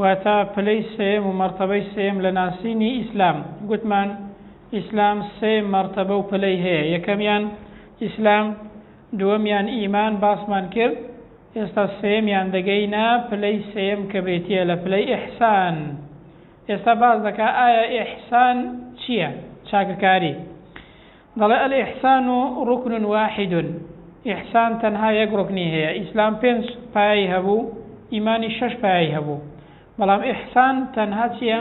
واتە پلەی سێیەم و مەرتەبەی سێیەم لە ناسینی ئیسلام، گوتمان ئیسلام سێ مەرتەبە و پلەی هەیە، یەکەمیان ئیسلام، دووەمیان ئیمان باسمان کرد، ئێستا سێیەمیان دەگەینە پلەی سێیەم کە بریتییە لە پلەی ئیحسان، ئێستا باس دەکا ئایا ئیحسان چییە؟ چاکەکاری. دەڵێ، الاحسان رکن واحد، ئیحسان تەنها یەک ڕوکنی هەیە، ئیسلام پێنج پایەی هەبوو، ئیمانیش شەش پایەی هەبوو، بەڵام احسان تەنها چییە؟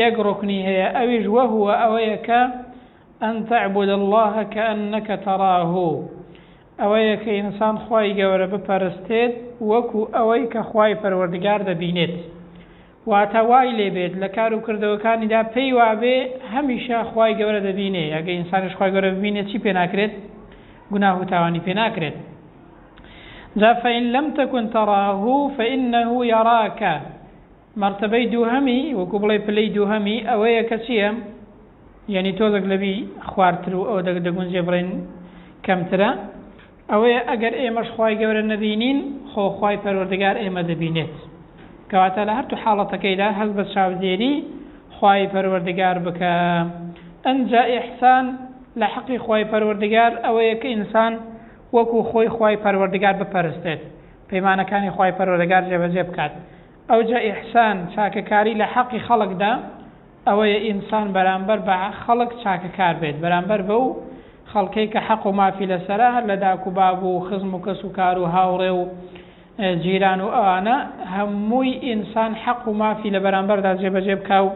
یەک ڕوکنی هەیە، ئەویش، وهو، ئەوەیە کە، ان تعبد اللە کانک تراه، ئەوەیە کە ئینسان خوای گەورە بپەرستێت وەکو ئەوەی کە خوای پەروەردگار دەبینێت. واتە وای لێ بێت لە کار و کردەوەکانیدا پێی وابێ هەمیشە خوای گەورە دەبینێ، ئەگەر ئینسانیش خوای گەورە ببینێ چی پێ ناکرێت؟ گوناه و تاوانی پێ ناکرێت. جا فإن لم تكن تراه فإنه يراك مەرتەبەی دووهەمی وەکو بڵێ پلەی دووهەمی ئەوەیە کە چییە؟ یعنی تۆزەک لەبی خوارتر و ئەوە دەگونجێ بڵێن کەمترە ئەوەیە ئەگەر ئێمەش خوای گەورە نەبینین خۆ خوای پەروەردگار ئێمە دەبینێت کەواتە لە هەردوو حاڵەتەکەیدا هەست بە چاودێری خوای پەروەردگار بکە ئەنجا ئیحسان لە حەقی خوای پەروەردگار ئەوەیە کە ئینسان وەکو خۆی خوای پەروەردگار بپەرستێت پەیمانەکانی خوای پەروەردگار جێبەجێ بکات ئەوجا ئیحسان چاکەکاری لە حەقی خەڵکدا ئەوەیە ئینسان بەرامبەر بە خەڵک چاکەکار بێت، بەرامبەر بەو خەڵکەی کە حەق و مافی لەسەرە، هەر لە داک و باب و خزم و کەس و کار و هاوڕێ و جیران و ئەوانە، هەمووی ئینسان حەق و مافی لە بەرامبەردا جێبەجێ بکا و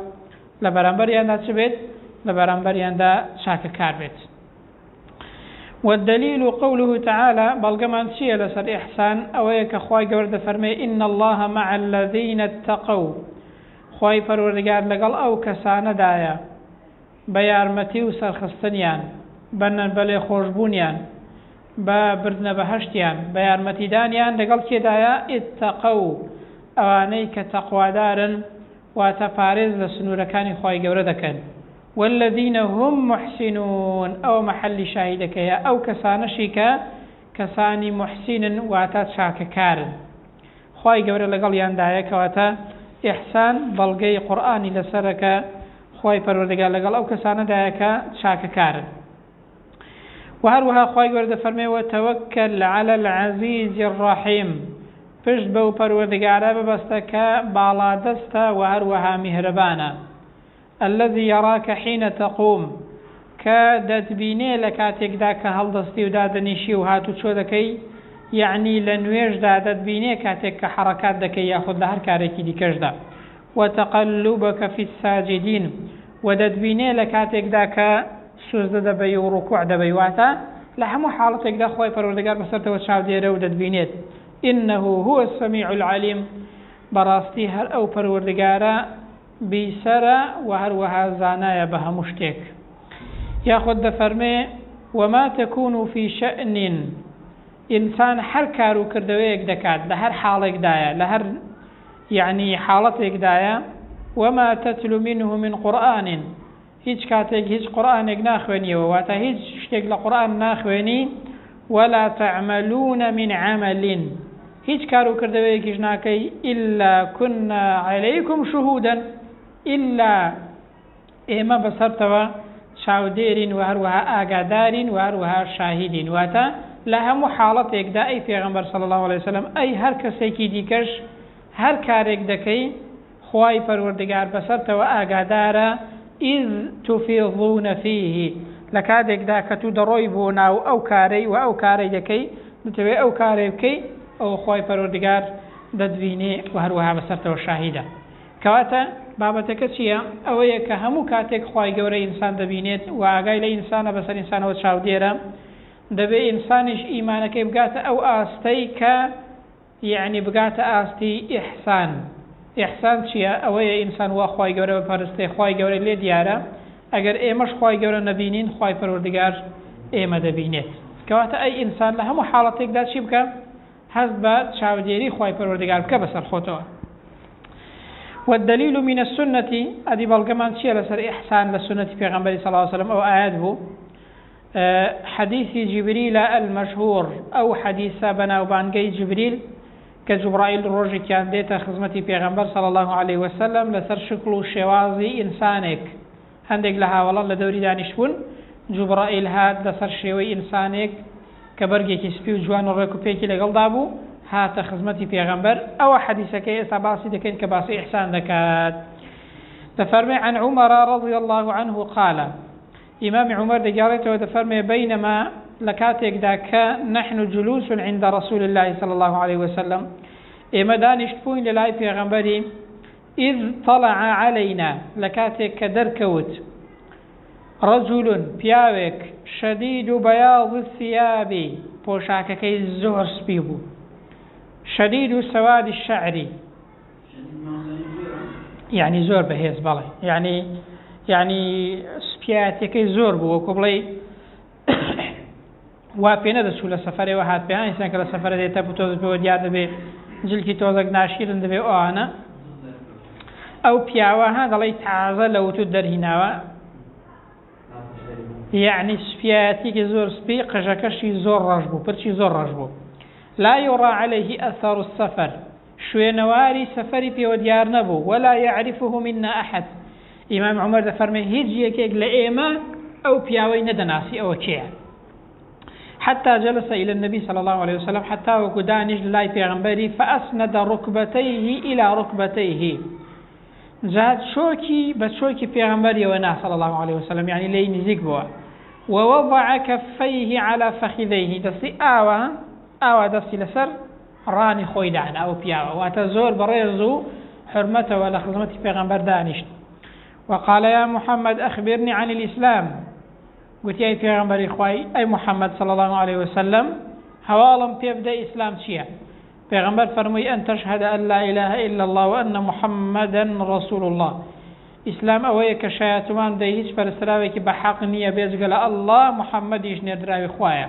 لە بەرامبەریاندا چ بێت؟ لە بەرامبەریاندا چاکەکار بێت. والدلیل قوله تعالی، بەڵگەمان چییە لەسەر ئیحسان؟ ئەوەیە کە خوای گەورە دەفەرمێ، ان الله مع الذین اتقوا، خوای پەروەردگار لەگەڵ ئەو کەسانەدایە بە یارمەتی و سەرخستنیان، بە بەلێخۆشبوونیان، بە بردنە بەهەشتیان، بە یارمەتیدانیان، لەگەڵ کێدایە، اتقوا، ئەوانەی کە تەقوادارن، واتە پارێز لە سنوورەکانی خوای گەورە دەکەن، والذین هم محسنون، ئەوە مەحەلی شاهیدەکەیە، ئەو کەسانەشی کە کەسانی محسینن، واتە چاکەکارن. خوای گەورە لەگەڵیاندایە کەواتە ئیحسان بەڵگەی قورئانی لەسەرە کە خوای پەروەردگار لەگەڵ ئەو کەسانەدایە کە چاکەکارن وە هەروەها خوای گەورە دەفەرمێ وە تەوەکەل علی العزیز الرحیم پشت بەو پەروەردگارە ببەستە کە باڵادەستە وە هەروەها میهرەبانە الذی یراک حین تقوم، کە دەتبینێ لە کاتێکدا کە هەڵدەستی و دادەنیشی و هاتوچۆ دەکەی، یەعنی لە نوێژدا دەتبینێ کاتێک کە حەڕەکات دەکەی یاخود لە هەر کارێکی دیکەشدا، و تقلبک فی الساجدین، و دەتبینێ لە کاتێکدا کە سوزدە دەبەی و ڕکوع دەبەی، واتە لە هەموو حاڵەتێکدا خوای پەروەردگار بەسەرتەوە چاودێرە و دەتبینێت، انه هو السمیع العلیم، بەڕاستی هەر ئەو پەروەردگارە، بیسەرە و هەروەها زانایە بە هەموو شتێک. یاخود دەفەرمێ، وما تکون فی شئن، ئینسان هەر کار و کردەوەیەک دەکات، لە هەر حاڵێکدایە، لە هەر یەعنی حاڵەتێکدایە، وما تتل منه من قرآن، هیچ کاتێک هیچ قورئانێک ناخوێنیەوە واتە هیچ شتێک لە قورئان ناخوێنی ولا تعملون من عمل هیچ کار و کردەوەیەکیش ناکەی الا كنا عليكم شهودا الا ئێمە بەسەرتەوە چاودێرین و هەروەها ئاگادارین و هەروەها شاهیدین واتە لە هەموو حاڵەتێکدا ئەی پێغەمبەر صلی الله علیه وسلم ئەی هەر کەسێکی دیکەش هەر کارێک دەکەی خوای پەروەردگار بەسەرتەوە ئاگادارە، اذ تفیضون فیه، لەکاتێکدا کە تو دەڕۆی بۆ ناو ئەو کارەی وە ئەو کارەی دەکەی، دەتەوێ ئەو کارەی بکەی، ئەوە خوای پەروەردگار دەتبینێ وە هەروەها بەسەرتەوە شاهیدە. کەواتە بابەتەکە چییە؟ ئەوەیە کە هەموو کاتێک خوای گەورە ئینسان دەبینێت وە ئاگای لە ئینسانە بەسەر ئینسانەوە چاودێرە، دەبێ ئینسانیش ئیمانەکەی بگاتە ئەو ئاستەی کە، یەعنی بگاتە ئاستی ئیحسان ئیحسان چیە ئەوەیە ئینسان وا خوای گەورە بپەرستێ خوای گەورە لێ دیارە ئەگەر ئێمەش خوای گەورە نەبینین خوای پەروەردگار ئێمە دەبینێت کەواتە ئەی ئینسان لە هەموو حاڵەتێکدا چی بکە هەست بە چاودێری خوای پەروەردگار بکە بەسەر خۆتەوە والدليل من السنة أدي بلغمان چیە لەسەر إحسان لە سنەتی پێغەمبەری صلی الله عليه وسلم ئەو ئاەت بوو حەدیسی جیبریلە المشهور، ئەو حەدیسە بەناوبانگەی جیبریل کە جوبڕائیل ڕۆژیکیان دێتە خزمەتی پێغەمبەر صلی اللە علیە وسلم لەسەر شکڵ و شێوازی ئینسانێک هەندێک لە هاوەڵان لە دەوری دانیشتبوون جوبڕائیل هات لەسەر شێوەی ئینسانێک کە بەرگێکی سپی و جوان و ڕێک و پێکی لەگەڵدا بوو هاتە خزمەتی پێغەمبەر ئەوە حەدیسەکەی ئێستا باسی دەکەین کە باسی ئیحسان دەکات دەفەرمێ عن عمر رضی الله عنه قال ئیمامی عومەر دەگێڕێتەوە دەفەرموێ، بەینەما، لە کاتێکدا کە، نحن جلوس عند رسول اللە صلی اللە علیە وسلم، ئێمە دانیشتبووین لە لای پێغەمبەری، اذ طلع علینا، لە کاتێک کە دەرکەوت، رجل، پیاوێک، شدید بیاض الثیاب، پۆشاکەکەی زۆر سپی بوو، شدید سواد الشعر، یعنی زۆر بەهێز بەڵێ یعنی یعنی سپیاتەکەی زۆر بوو وەکو بڵێ وا پێ نەدەچوو لە سەفرەوە هات پێیان ئینسان کە لە سەفرە دێتە بتۆزەوە دیار دەبێ جلکی تۆزەک ناشیرن دەبێ ئەوانە ئەو پیاوە ها دەڵی تازە لە وتو دەرهیناوە یعنی سپیاتێکی زۆر سپی قژەکەشی زۆر ڕەش بوو پرچی زۆر ڕەش بوو لا یڕا عليه ئەثار و سەفەر شوێنەواری سەفەری پێوە دیار نەبوو، ولا یعرفه منا احد، ئیمام عومەر دەفەرمێ هیچ یەکێک لە ئێمە ئەو پیاوەی نەدەناسی ئەوە کێیە؟ حتی جلس الی النبی صلی الله علیه وسلم حتی وەکو دانیشت لای پێغمبەری فاسند رکبتیه الی رکبتیه جا چۆکی بە چۆکی پێغمبەریەوە نا صلی الله علیه وسلم یعنی لێی نزیک بووە ووضع کفیه علی فخذیه دەستی ئاوا ئاوا دەستی لەسەر ڕانی خۆی دانا ئەو پیاوە واتە زۆر بەڕێز و حورمەتەوە لە خزمەتی پێغەمبەر دانیشت وقال یا محمد اخبرنی عن الاسلام گوتی ئەی پێغەمبەری خوای ئەی محمد صلی الله عليه وسلم هەواڵم پێ بدە ئیسلام چییە پێغەمبەر فەرمووی ئەن تشهد ان لا اله الا الله وان محمدا رسول الله ئیسلام ئەوەیە کە شایەتوان بدەی هیچ پەرستراوێکی بە حەق نییە بێجگە لە ئەلله محەممەدیش نێردراوی خوایە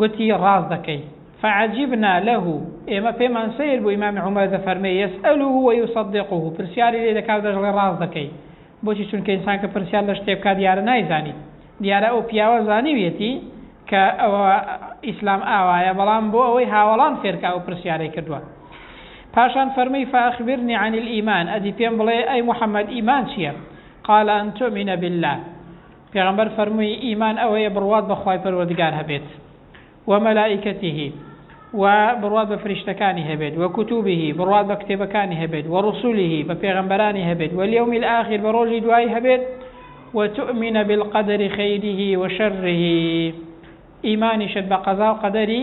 گوتی، ڕاست دەکەی. فعجبنا له، ئێمە پێمان سەیر بوو ئیمام عومەر دەفەرمێ، یسئلوه و یصدقوه، پرسیاری لێ دەکا و دەشڵێ ڕاست دەکەی. بۆچی؟ چونکە ئینسان کە پرسیار لە شتێ بکا دیارە نایزانیت. دیارە ئەو پیاوە زانیویەتی کە ئەوە ئیسلام ئاوایە، بەڵام بۆ ئەوەی هاوەڵان فێر کا ئەو پرسیارەی کردوە. پاشان فەرمووی، فاخبرنی عن الایمان، ئەدی پێم بڵێ ئەی محمد ئیمان چییە؟ قال ان تؤمن باللە. پێغەمبەر فەرمووی، ئیمان ئەوەیە بڕوات بە خوای پەروەردگار هەبێت، و ملائکته، و بڕوات بە فریشتەکانی هەبێت، و کتبه، بڕوات بە کتێبەکانی هەبێت، و رسله، بە پێغەمبەرانی هەبێت، و الیوم الاخر، بە رۆژی دوایی هەبێت، و تؤمن بالقدر خیره و شره، ئیمانیشت بە قەزا و قەدەری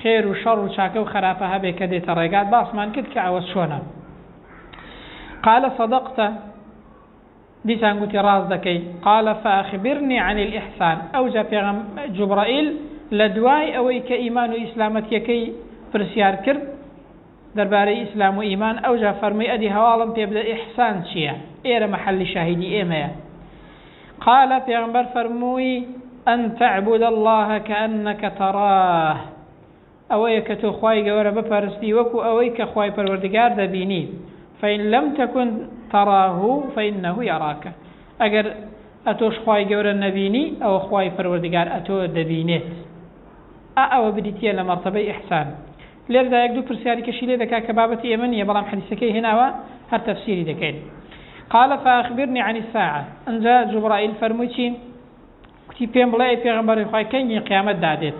خێر و شەڕ و چاکە و خەراپە هەبێت کە دێتە رێگات، باسمان کرد کە ئەوە چۆنە. قال صدقت. دیسان گوتی، ڕاست دەکەی. قال فاخبرنی عن الاحسان، ئەوجا پێغەم، جبرائیل، لە دوای ئەوەی کە ئیمان و ئیسلامەتیەکەی پرسیار کرد دەربارەی ئیسلام و ئیمان، ئەوجا فەرمووی، ئەدی هەواڵم پێ بدە ئیحسان چیە؟ ئێرە مەحەلی شاهیدی ئێمەیە. قال پێغەمبەر فەرمووی، ان تعبد اللە کانک تراه. ئەوەیە کە تۆ خوای گەوەرە بپەرستی وەکو ئەوەی کە خوای پەروەردگار دەبینی، فان لم تکن تراه فانه یراک، ئەگەر ئەتۆش خوای گەورە نەبینی ئەوە خوای پەروەردگار ئەتۆ دەبینێت، ئا ئەوە بریتیە لە مەرتەبەی ئیحسان، لێرەدا یەک دوو پرسیاری کەشی لێ دەکا کە بابەتی ئێمە نیە بەڵام حەدیسەکەی هێناوە هەر تەفسیری دەکەین قال فاخبرنی عن الساعە ئەنجا جوبرائیل فەرمووی چی کوتی پێم بڵێ ئەی پێغەمبەری خوای کەنگی قیامەت دادێت؟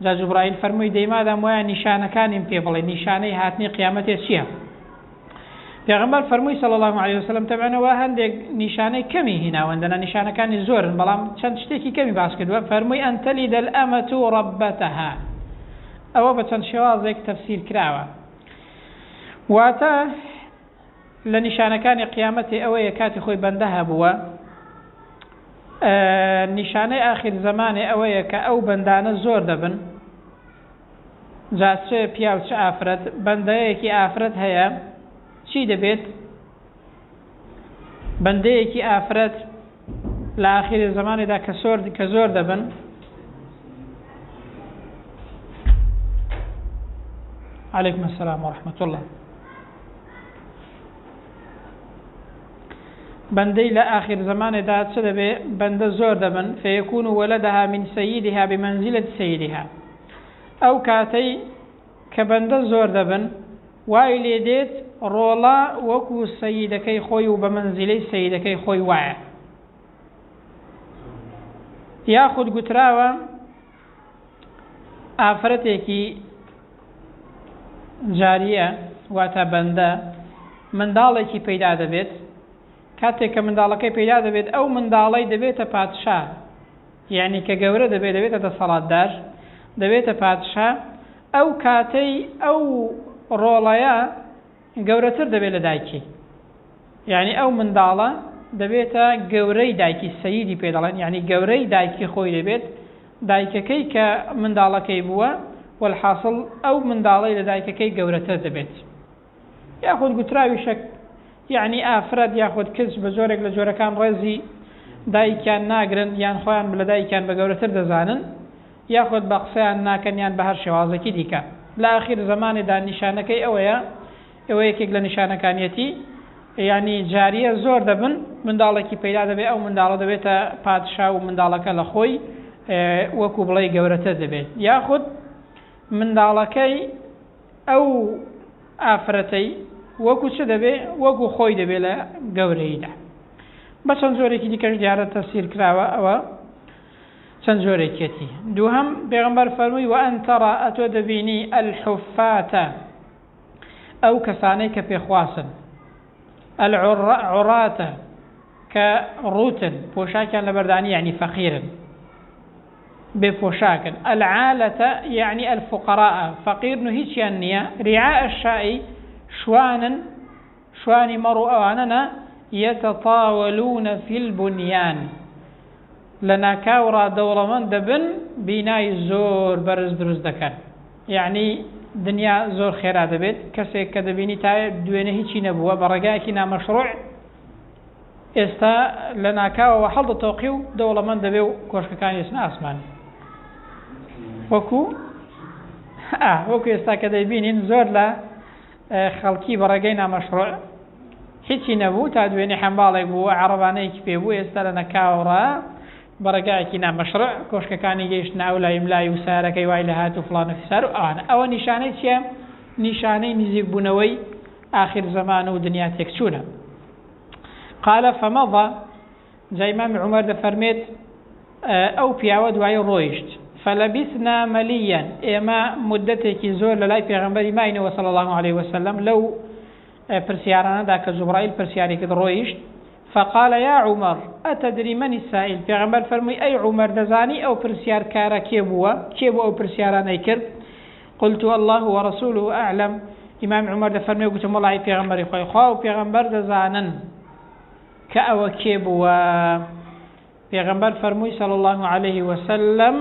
جا جوبرائیل فەرمووی، دەی مادام وایە نیشانەکانیم پێ بڵێ، نیشانەی هاتنی قیامەتێ چییە؟ پێغەمبەر فەرمووی، صلی اللە علیە وسلم، تەبعەن ئەوە هەندێک نیشانەی کەمی هیناون، دەنا نیشانەکانی زۆرن، بەڵام چەند شتێکی کەمی باس کردووە، فەرمووی، ان تلد الامە ربتها، ئەوە بە چەند شێوازێک تەفسیر کراوە، واتە، لە نیشانەکانی قیامەتی ئەوەیە کاتی خۆی بەندە هەبووە نیشانەی ئاخیر زەمانێ ئەوەیە کە ئەو بەندانە زۆر دەبن جا چ پیا و چ ئافرەت بەندەیەکی ئافرەت هەیە چی دەبێت بەندەیەکی ئافرەت لە ئاخیری زەمانێدا کە سۆر کە زۆر دەبن علیکم السلام ورحمة الله بەندەی لە ئاخر زمانێدا چ دەبێ بەندە زۆر دەبن فەیەکون و وەلەدەها من سەیدها بمەنزیلت سەیرها ئەو کاتەی کە بەندە زۆر دەبن وای لێ دێت ڕۆڵە وەکو سەیدەکەی خۆی و بە مەنزیلەی سەیدەکەی خۆی وایە. یاخود گوتراوە ئافرەتێکی جاریە واتە بەندە منداڵێکی پەیدا دەبێت کاتێک کە منداڵەکەی پەیدا دەبێت ئەو منداڵەی دەبێتە پادشا یعنی کە گەورە دەبێت دەبێتە دەسەڵاتدار دەبێتە پادشا ئەو کاتەی ئەو ڕۆڵەیە گەورەتر دەبێت لە دایکی یانی ئەو منداڵە دەبێتە گەورەی دایکی سەیدی پێ دەڵێن یعنی گەورەی دایکی خۆی دەبێت دایکەکەی کە منداڵەکەی بووە والحاصل ئەو منداڵەی لە دایکەکەی گەورەتر دەبێت یاخود گوتراوی شەک یەعنی ئافرەت یاخود کچ بە جۆرێک لە جۆرەکان ڕێزی دایکیان ناگرن یان خۆیان لە دایکیان بە گەورەتر دەزانن یاخود بە قسەیان ناکەن یان بە هەر شێوازێکی دیکە لە ئاخیر زەمانێدا نیشانەکەی ئەوەیە ئەوە یەکێک لە نیشانەکانیەتی یعنی جاریە زۆر دەبن منداڵێکی پەیدا دەبێت ئەو منداڵە دەبێتە پادشا و منداڵەکە لە خۆی وەکو بڵێ گەورەتر دەبێت یاخود منداڵەکەی ئەو ئافرەتەی وەکو چ دەبێ؟ وەکو خۆی دەبێ لە گەورەییدا. بە چەند جۆرێکی دیکەش دیارە تەفسیر کراوە ئەوە چەند جۆرێکیەتی. دووهەم پێغەمبەر فەرمووی وەئەن تەڕا ئەتۆ دەبینی ئەلحوفاتە ئەو کەسانەی کە پێخواسن ئەلعڕاتە کە ڕووتن پۆشاکیان لەبەردانی یعنی فەقیرن بێ پۆشاکن، العالە یەعنی الفقراء فەقیرن و هیچیان نییە، رعاء الشاء شوانن، شوانی مەڕ و ئەوانە نا، یەتەتاوەلوونە فی البنیان لە ناکاوڕا دەوڵەمەند دەبن بینای زۆر بەرز دروست دەکەن، یەعنی دنیا زۆر خێرا دەبێت، کەسێک کە دەبینی تا دوێنێ هیچی نەبووە بە ڕێگایەکی نامەشڕووع، ئێستا لە ناکاوەوە هەڵدەتۆقێ و دەوڵەمەند دەبێ و کۆشکەکانی دەچنە ئاسمان. وەکو ئا وەکو ئێستا کە دەیبینین زۆر لە خەڵکی بەڕێگەی نامەشڕوع هیچی نەبوو تا دوێنێ حەمباڵێک بوو عربانەیەکی پێ بوو ئێستا لە نەکاوڕە بەڕێگایەکی نامەشڕع کۆشکەکانی گەیشت ناولای ملای و سارەکەی وای لە هات و فلان و فسار و ئەوان ئەوە نیشانەی چیە نیشانەی نزیکبوونەوەی ئاخر زەمان و دنیا تێکچوونە. قال فمضى جا ئیمام عومەر دەفەرمێت ئەو پیاوە دوایی ڕۆیشت فلبثنا مليا ئێمە مدەتێکی زۆر لە لای پێغەمبەری ماینەوە صلی الله عليه وسلم لەو پرسیارانەدا کە جوبرائیل پرسیاری کرد ڕۆیشت فقال يا عمر أتدري من السائل پیغمبر فرموی ای عمر دەزانی ئەو پرسیارکارە کێ بووە کێ بوو ئەو پرسیارانەی کرد قلت اللە و رسوله اعلم، ئیمام عومەر دەفەرموێ گوتم وەڵایی پێغەمبەری خوای خوا و پێغەمبەر دەزانن کە ئەوە کێ بووە پێغەمبەر فەرمووی صلی الله علیه وسلم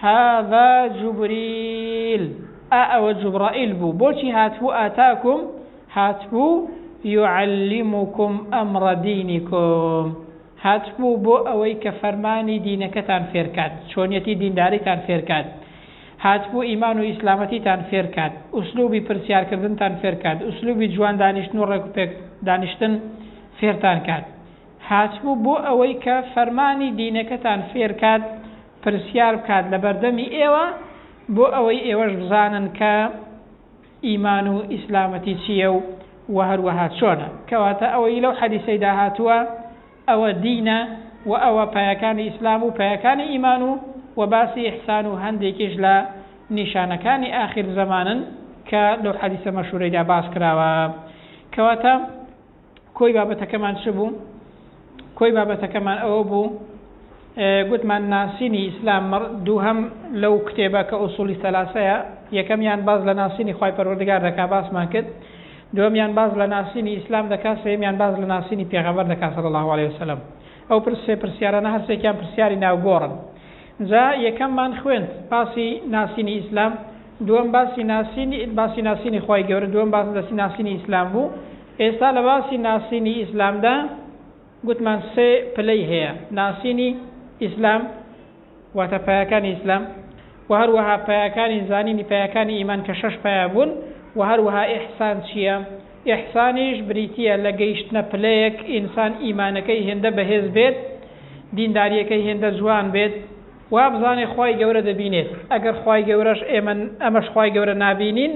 هذا جبریل ئا ئەوە جبرائیل بوو بۆچی هاتبوو ئاتاکم هاتبوو يعلمكم امر دينكم هاتبوو بۆ ئەوەی کە فەرمانی دینەکەتان فێرکات چۆنیەتی دینداریتان فێرکات هاتبوو ئیمان و ئیسلامەتیتان فێر کات، ئوسلوبی پرسیار کردنتان فێر کات، ئوسلوبی جوان دانیشتن و ڕێک و پێک دانیشتن فێرتان کات. هاتبوو بۆ ئەوەی کە فەرمانی دینەکەتان فێر کات، پرسیار بکات لە بەردەمی ئێوە، بۆ ئەوەی ئێوەش بزانن کە ئیمان و ئیسلامەتی چییە و هەروەها چۆنە. کەواتە ئەوەی لەو حەدیسەیدا هاتووە، ئەوە دینە و ئەوە پایەکانی ئیسلام و پایەکانی ئیمان و و باسی ئیحسان و هەندێکیش لە نیشانەکانی ئاخیر زەمانن کە لەو حەدیسە مەشهورەیدا باس کراوە کەواتە کۆی بابەتەکەمان چ بوو؟ کۆی بابەتەکەمان ئەوە بوو گوتمان ناسینی ئیسلام مەڕ دووهەم لەو کتێبە کە ئوسوڵی سەلاسەیە یەکەمیان باس لە ناسینی خوای پەروەردگار دەکا باسمان کرد دووەمیان باس لە ناسینی ئیسلام دەکا سێیەمیان باس لە ناسینی پێغەمبەر دەکا صلی اللە علیە وسلم ئەو پرس سێ پرسیارانە هەر سێکیان پرسیاری ناوگۆڕن جا یەکەممان خوێند باسی ناسینی ئیسلام دووەم باسی ناسینی باسی ناسینی خوای گەورە دووەم باس لەسی ناسینی ئیسلام بوو ئێستا لە باسی ناسینی ئیسلامدا گوتمان سێ پلەی هەیە، ناسینی ئیسلام، واتە پایەکانی ئیسلام، وە هەروەها پایەکانی زانینی پایەکانی ئیمان کە شەش پایە بوون، وە هەروەها ئیحسان چییە، ئیحسانیش بریتییە لە گەیشتنە پلەیەک ئینسان ئیمانەکەی هێندە بەهێز بێت، دیندارییەکەی هێندە جوان بێت، وابزانێ خوای گەورە دەبینێت ئەگەر خوای گەورەش ئێمە ئەمەش خوای گەورە نابینین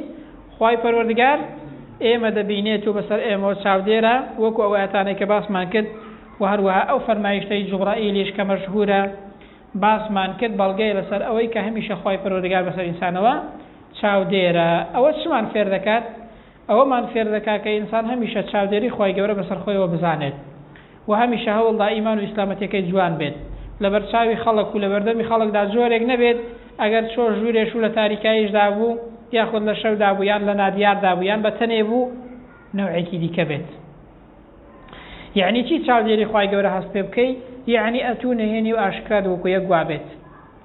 خوای پەروەردگار ئێمە دەبینێت و بەسەر ئێمەوە چاودێرە وەکو ئەو ئاتانەی کە باسمان کرد و هەروەها ئەو فەرمایشتەی جوبڕائیلیش کە مەشهورە باسمان کرد بەڵگەیە لەسەر ئەوەی کە هەمیشە خوای پەروەردگار بەسەر ئینسانەوە چاودێرە ئەوە چمان فێر دەکات ئەوەمان فێر دەکات کە ئینسان هەمیشە چاودێری خوای گەورە بەسەر خۆیەوە بزانێت و هەمیشە هەوڵدا ئیمان و ئیسلامەتیەکەی جوان بێت لەبەرچاوی خەڵک و لەبەردەمی خەڵکدا جۆرێک نەبێت ئەگەر چۆ ژوورێش و لە تاریکاییشدا بوو یاخود لە شەودا بوو یان لە نادیاردا بوو یان بە تەنێ بوو نەوعێکی دیکە بێت یعنی چی چاودێری خوای گەورە هەست پێ بکەی یعنی ئەتوو نهێنی و ئاشکرات وەکو یەک گوابێت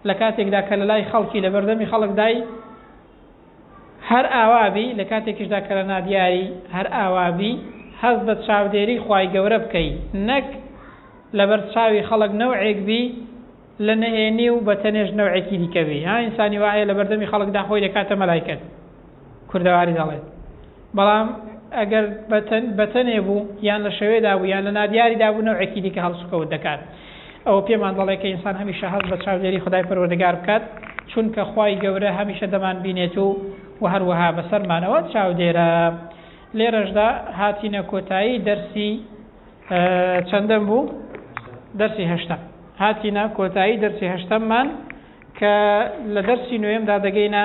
لە کاتێکدا کە لە لای خەڵکی لە بەردەمی خەڵکدای هەر ئاوا بی لە کاتێکیشدا کە لە نادیاری هەر ئاوا بی هەست بە چاودێری خوای گەورە بکەی نەک لەبەر چاوی خەڵک نەوعێک بی لە نەهێنی و بە تەنێش نەوعێکی دیکە بی ها ئینسانی وایە لە بەردەمی خەڵکدا خۆی دەکاتە مەلایکەت کوردەواری دەڵێت بەڵام ئەگەر بە تەنێ بوو یان لە شەوێدا بوو یان لە نادیاریدا بوو نەوعێکی دیکە هەڵسوکەوت دەکات. ئەوە پێمان دەڵێت کە ئینسان هەمیشە هەست بە چاودێری خودای پەروەردگار بکات، چونکە خوای گەورە هەمیشە دەمانبینێت و و هەروەها بەسەرمانەوە چاودێرە. لێرەشدا هاتینە کۆتایی دەرسی چەندەم بوو؟ دەرسی هەشتەم. هاتینە کۆتایی دەرسی هەشتەممان کە لە دەرسی نوێمدا دەگەینە